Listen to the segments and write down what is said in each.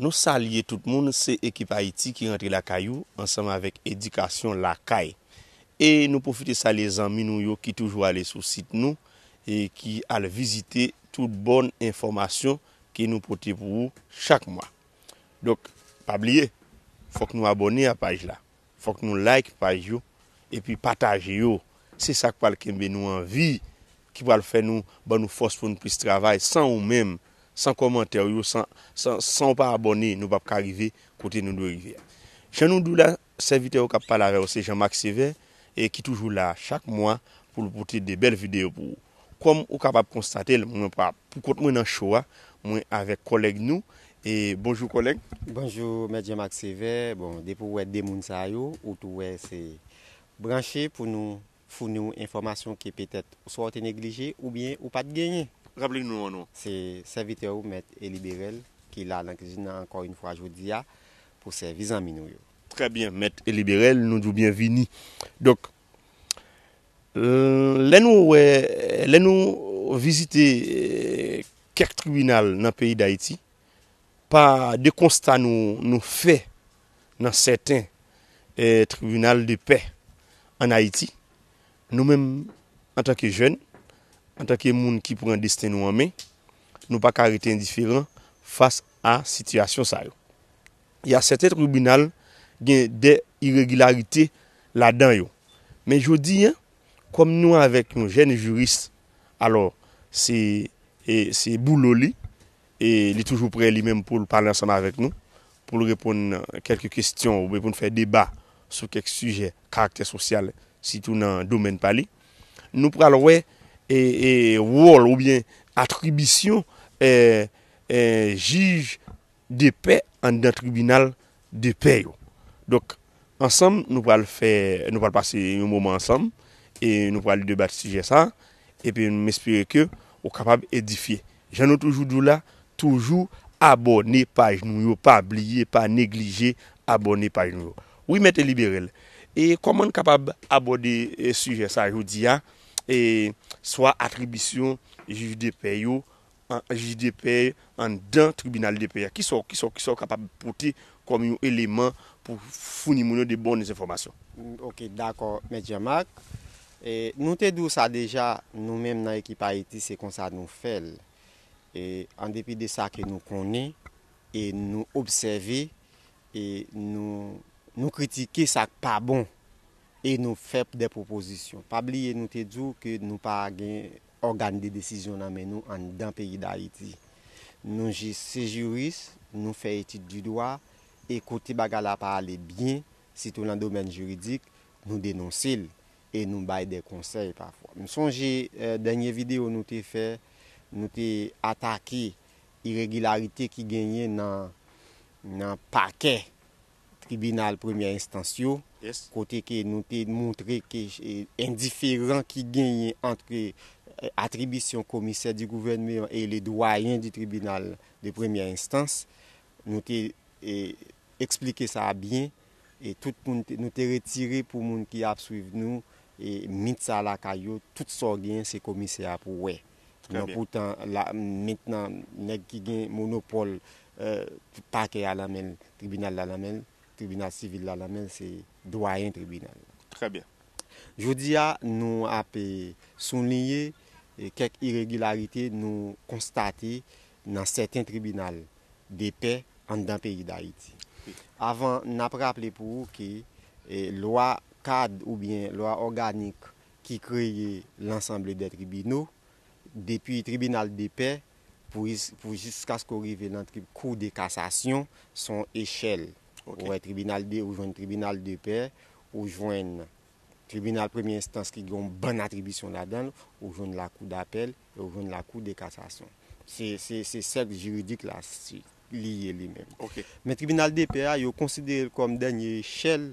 Nou salye tout moun se ekip ayiti ki rantre lakay ou ansanm avèk edikasyon lakay e nou pwofite salye zanmi nou yo ki toujou ale sou sit nou e ki al vizite tout bon enfòmasyon ke nou pote pou ou chak mwa donk pa bliye fòk nou abòne a paj la Fok nou like paj yo epi pataje yo se sak pral kenbe nou anvi ki pral fè nou ban nou fòs poun plis travay san ou menm san kòmantèw yo san san sanw pa abòne nou pap ka rive kote nou dwe rive a jan nou diw la sèvitè ou kap pale avèw se Jean Marc Sévère e ki toujou la chak mwa poul pote de bèl video pou ou. Kòm ou kapab konstatel mwen pa poukont mwen nan show a, mwen avèk kòlèg nou e bonjou kòlèg. Bonjou mèt Jean Marc Sévère, bon depi ou wè 2 moun sa yo ou tou wè se branche pou nou founi w enfòmasyon ke petèt swa ou te neglije oubyen ou pat genyen. Raple nou non an nou. Se sèvitè ou mèt Élie Bérel ki la nan kizin nan ankò yn fwa jodi a pou sèvi zanmi nou yo. Trè byen mèt Élie Bérel, nou di w byenvini. Donk Lè nou wè, lè nou vizite kèk tribinal nan peyi Dayiti, pa de konsta nou fè nan sèten tribinal de pè an Ayiti, nou menm antanke jèn, antanke moun ki pran desten nou an men, nou pa ka rete endiferan fas a sitiyasyon sa yo. y a sèten tribinal gen dè iregilarite ladan yo. Men jodi an, kòm nou avèk yon jèn jiris, alò se se boulot li, e li toujou prè li menm pou l pale ansanm avèk nou, pou l reponn kèlke kesyon oubyen pou n fè deba sou kèk sijè karaktè sosyal sitou nan domèn pa li. Nou pral wè wòl oubyen atribisyon jij de pè anndan tribinal de pè yo. Donk, ansanm nou pral fè, nou pral pase yon moman ansanm e nou pral debat sijè sa a epi m espere ke ou kapab edifye. Jan nou toujou di w la, toujou abòne paj nou yo, pa bliye, pa neglije abòne paj nou yo. Wi Mèt Eli Berel, e kòman n kapab abòde sijè sa a jodi a, e swa atribisyon jij de pè yo an jij de pè anndan tribinal de pè a? Ki sa w kapab pote kòm yon eleman pou founi moun yo de bon enfòmasyon? Ok, dakò, Mèt Jan Mak. Nou te di w sa deja, nou menm nan ekip Ayiti se konsa nou fè l. An depi de sa ke nou konnen e nou obsève e nou kritike sa k pa bon. E nou fèp dè pwopozisyon. Pa bliye nou te di w ke nou pa gen ògàn de desizyon nan men nou anndan peyi Dayiti. Nou jis se jiris, nou fè etid di dwa, e kote bagay la pa ale byen, sitou lan domèn jiridik, nou denonse l, e nou bay dè konsèy pafwa. M sonje dènye videyo nou te fè, nou te atake iregilarite ki genyen nan pakè tribinal premyè enstans yo, kote ke nou te moutre ke endiferan ki genyen antre atribisyon komisè di gouvènmean e le dwayen di tribinal de premyè enstans, nou te esplike sa a byen, e tout moun, nou te retire pou moun ki ap swiv nou, mit sa lakay yo, tout sa w genyen se komisè a pou wè. Nan poutan la mentnan nèg ki gen monopòl pakè a lan menl, tribinal la lan menl, tribinal sivil la lan menl se dwayen tribinal la. Trè byen. Jodi a nou ap soulinye kèk iregilarite nou konstate nan sèten tribinal depè anndan peyi Dayiti. Avan nap raple pou ou ke lwa kad oubyen lwa òganik ki kreye lansanble dè tribino, depi tribinal de pè pou jiskaske w rive nan kou de kasasyon, s on echèl. Ou wè tribinal de, ou jwenn tribinal de pè, ou jwenn tribinal premye enstans ki gen yon bann atribisyon ladan l, ou jwenn lakou dapèl, e ou jwenn lakou de kasasyon. Se sèk jiridik la li ye li menm. Men tribinal de pè a, yo konsidere l kòm dènye echèl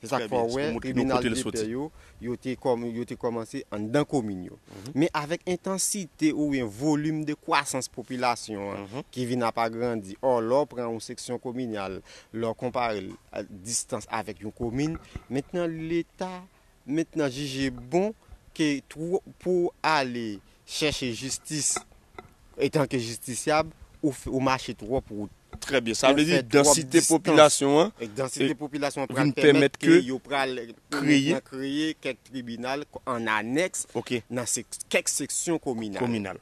Se sa k fè w wè tribinal depè yo, yo te yo te kòmanse anndan komin yo. Men avèk entansite oubyen volim de kwasans popilasyon an ki vin ap agrandi, ò lè w pran yon seksyon kominal, lè w konpare l a distans avèk yon komin, mentnan leta mentnan jije bon ke twou pou w ale chèche jistis etanke jistisyab, ou mache twòp wout. Trè byen, sa vle di dansite popilasyon an vin pèmèt ke yo pral kreye kèk tribinal an anèks nan kèk seksyon kominal.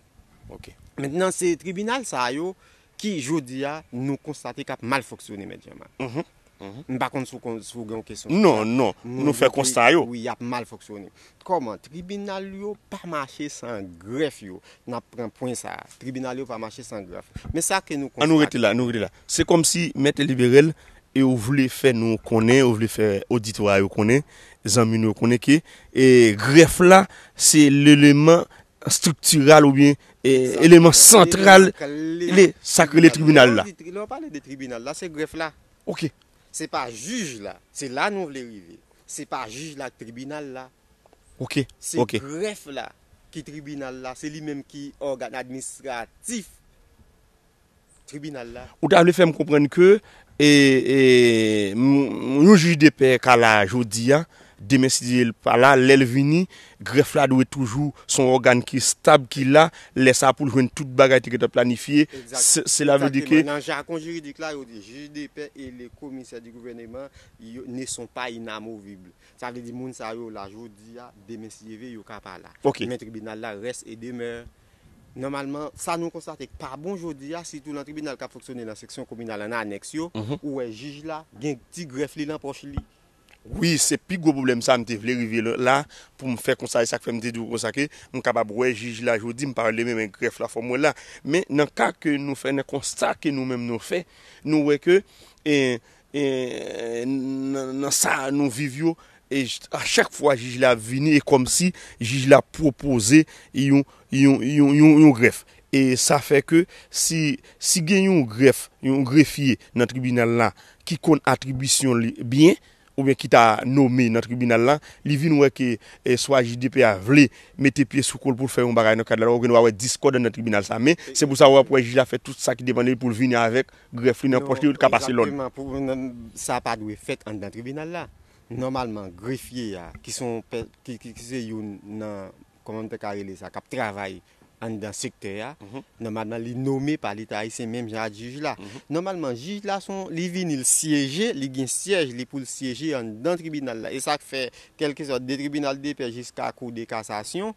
Mentnan se tribinal sa yo ki jodi a nou konstate k ap mal fonksyone mèt Jean Marc. M pa konn si w gen yon kesyon. Non, non. Nou fè konsta yo. Wi, y ap mal fonksyone. Kòman? Tribinal yo pa mache san grèf yo. N ap pran pwen sa a. Tribinal yo pa mache san grèf. Men sa ke nou konstate. An nou rete la, nou rete la. Se kòmsi Mèt Eliberèl e ou vle fè nou konnen, ou vle fè oditwa yo konnen, zanmi nou yo konnen ke grèf la se leman estriktiral oubyen eleman santral li sa k rele tribinal la. Lè w pale de tribinal la, se grèf la. Ok. Se pa jij la. Se la nou vle rive. Se pa jij la ak tribinal la. Ok. Se grèf la ki tribinal la. Se li menm ki ògàn administratif. tribinal la. Ou ta vle fè m konprann ke yon jij de pè ka la jodi a, demen si Dye vle l pa la, lè l vini, grèf la dwe toujou se yon ògàn ki estab ki la, lè sa pou l jwenn tout bagay te gentan planifye, sela vle di ke. Nan jakon jiridik la yo di jij de pè e le komisè di gouvèneman ne son pa inamovibl. Sa vle di moun sa yo la jodi a, demen si Dye vle yo ka pa la. Men tribinal la rès e demè. Nòmalman, sa nou konstate k pa bon jodi a, sitou nan tribinal k ap fonksyone nan seksyon kominal an anèks yo, ou wè jij la gen ti grèf li nan pòch li. Wi, se pi gwo pwoblèm sa a m te vle rive la pou m fè konsa. E sa k fè m te di w konsa ke m kapab wè jij la jodi, m pa relemen men grèf la fò m wè l la. Men nan ka ke nou fè, nan konsta ke nou menm nou fè, nou wè ke E nan sa nou viv yo, a chak fwa jij la ap vini, e kòm si jij la ap pwopoze yon grèf. E sa fè ke si gen yon grèf, yon grefye nan tribinal la ki konn atribisyon li byen, oubyen ki ta nome nan tribinal la, li vin wè ke swa jij dp a vle mete pye sou kol pou l fè yon bagay nan kad lalwa, ou gen dwa wè diskòdans nan tribinal sa. Men, se pou sa ou ap wè jij la fè tout sa ki depan de li pou l vini avèk grèf li nan pòch li yo li ka pase lòd. Sa pa dwe fèt anndan tribinal la. Nòmalman grefye a ki se yon ki se youn nan kòman m te ka rele sa k ap travay anndan sektè a nòmalman li nome pa leta ayisyen menm jan ak jij la. Nòmalman jij la se yon li vini li syeje li gen syèj li pou l syeje anndan tribinal la e sa k fè kèlkeswa de tribinal depè jiska kou de kasasyon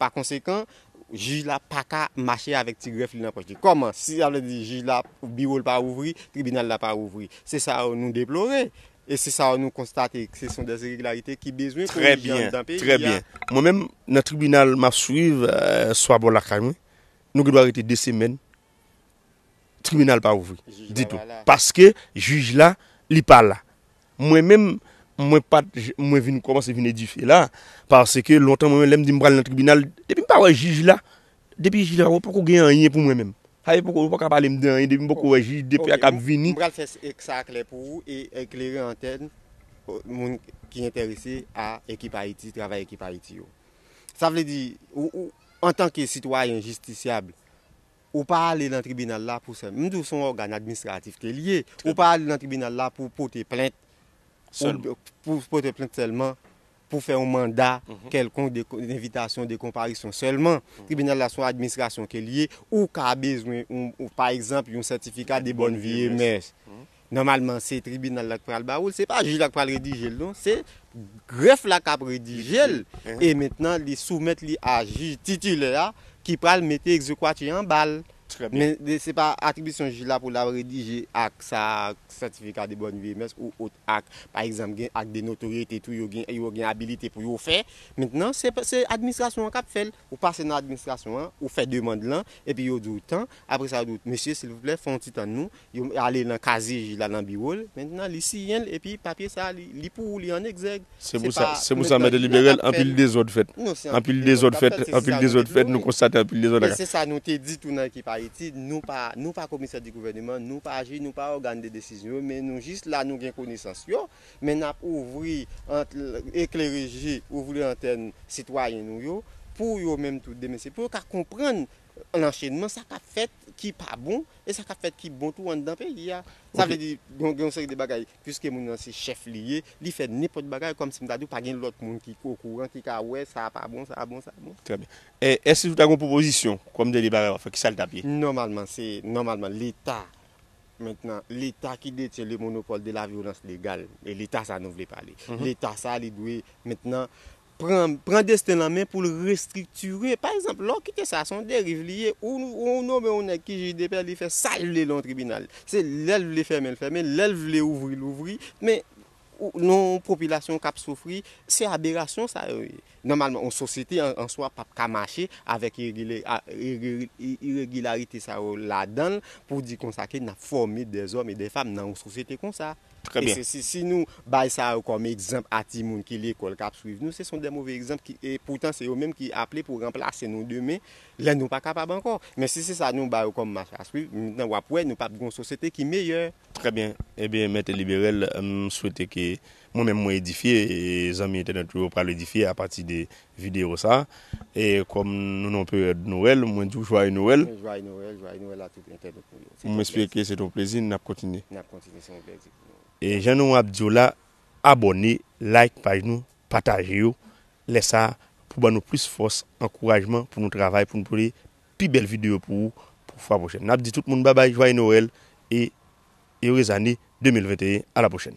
Pa konsekan, jij la pa ka mache avèk ti grèf li nan pòch li. Kòman? Si sa vle di jij la, biwo l pa ouvri, tribinal la pa ouvri. Se sa yo nou deplore. E se sa yo nou konstate ke se son dè iregilarite ki bezwen korije anndan peyi a. Trè byen, trè byen. Mwen menm, nan tribinal m ap swiv, swa bò lakay mwen, nou gen dwa rete 2 semèn, tribinal pa ouvri ditou. Paske jij la, li pa la. Mwen menm, mwen pa t, mwen vin kòmanse vin edifye la, paske lontan mwen menm lè m di m pral nan tribinal, depi m pa wè jij la, depi jij la wè poko gen anyen pou mwen menm. Sa vle di poko, yo paka pale m de anyen depi m poko wè jij, depi a kap vini. M pral fè sa klè pou ou e eklere antèn moun ki enterese a Ekip Ayiti, travay Ekip Ayiti yo. Sa vle di, ou, antanke sitwayen jistisyab, Ou pa ale nan tribinal la pou sèlman, m di w se yon ògàn administratif ke li ye, ou pa ale nan tribinal la pou pote plent, pou pote plent sèlman, pou fè yon manda kèlkonk de envitasyon, de konparisyon sèlman. Tribinal la se yon administrasyon ke li ye, ou ka bezwen, pa egzanp, yon sètifika de bòn vi e mès. Nòmalman se tribinal la ki pral ba ou l, se pa jij la ki pral redije l non, se grèf la k ap redije l e mentnan li soumèt li a jij titilè a ki pral mete egzekwati an ba l. Men se pa atribisyon jij la pou l al redije ak sa a, sètifika de bòn vye mès ou ot ak, pa egzanp gen ak de notoryete tou yo gen abilite pou yo fè, mentnan se administrasyon an k ap fè l. Ou pase nan administrasyon an, ou fè demand lan, epi yo di w tan, apre sa yo di w, mesye silvouplè fè yon ti tann nou, yo ale nan kazye jij la nan biwo l, mentnan li siyen l epi papye sa a li pou ou, li an egzèg. Se pou sa, se pou sa mèt delibere l, anpil dezòd fèt. Non se anpil dezòd k ap fèt, se anpil dezòd k ap fèt, nou konstate anpil dezòd. Men se sa nou te di tou nan ekip Ayiti, nou pa, nou pa komisè di gouvèneman, nou pa jij, nou pa ògàn de desizyon yo, men nou jis la nou gen konesans yo. Men nap ouvri antn eklere je, ouvri lantèn sitwayen nou yo pou yo menm tou demen se pou yo ka konprann lanchenman sa kap fèt ki pa bon e sa kap fèt ki bon tou anndan peyi a. Sa Ok. vle di gen yon seri de bagay puiske moun nan se chèf li ye, li fè nenpòt bagay kòm si m ta di w pa gen lòt moun ki okouran ki ka wè sa pa bon sa bon sa bon. Trè byen. E èske si w ta gen yon pwopozisyon kòm dènye bagay wap fè ki sa l tap ye? Nòmalman se nòmalman leta Mentnan, leta ki detyen le monopòl de la vyolans legal, e leta sa nou vle pale. Leta sa li dwe mentnan pran pran desten l an men pou l restriktire. Pa egzanp, lè w kite sa, se yon deriv li ye. Ou ou nome yon nèg ki jij de pè, li fè sa l vle lan yon tribinal. Se lè l vle fèmen l fèmen, lè l vle ouvri l ouvri. Men. nan yon popilasyon k ap soufri, se aberasyon sa yo ye. Nòmalman, yon sosyete an swa pap ka mache avèk iregilarite sa yo ladan l pou di konsa ke n ap fòme dèzòm e dèfam nan yon sosyete konsa. Trè byen. E si nou bay sa yo kòm egzanp a timoun ki lekòl k ap swiv nou, se son dè move egzanp ki e poutan se yo menm ki aple pou ranplase nou demen lè nou pa kapab ankò. Men si se sa nou ba yo kòm mach a swiv, w ap wè nou pap gen yon sosyete ki meyè. Trè byen, ebyen mèt liberel m swete ke mwen menm mwen edifye e zanmi entènèt yo pral edifye apati de video sa e kòm nou nan peryòd Noël mwen diw jwaye Noël. Mwen jwaye Noël, jwaye Noël a tout entènèt nou yo. Mwen espere ke se te yon plezi, nap kontinye. Nap kontinye, se yon plèzi pou nou. E jan nou ap diw la, abòne, like paj nou, pataje yo, lè sa pou ban nou plis fòs, ankourajman pou nou travay pou nou pote pi bèl video pou ou pou fwa pwochèn nap di tout moun babay jwaye Noël e Erez ane 2021 a la pwochèn.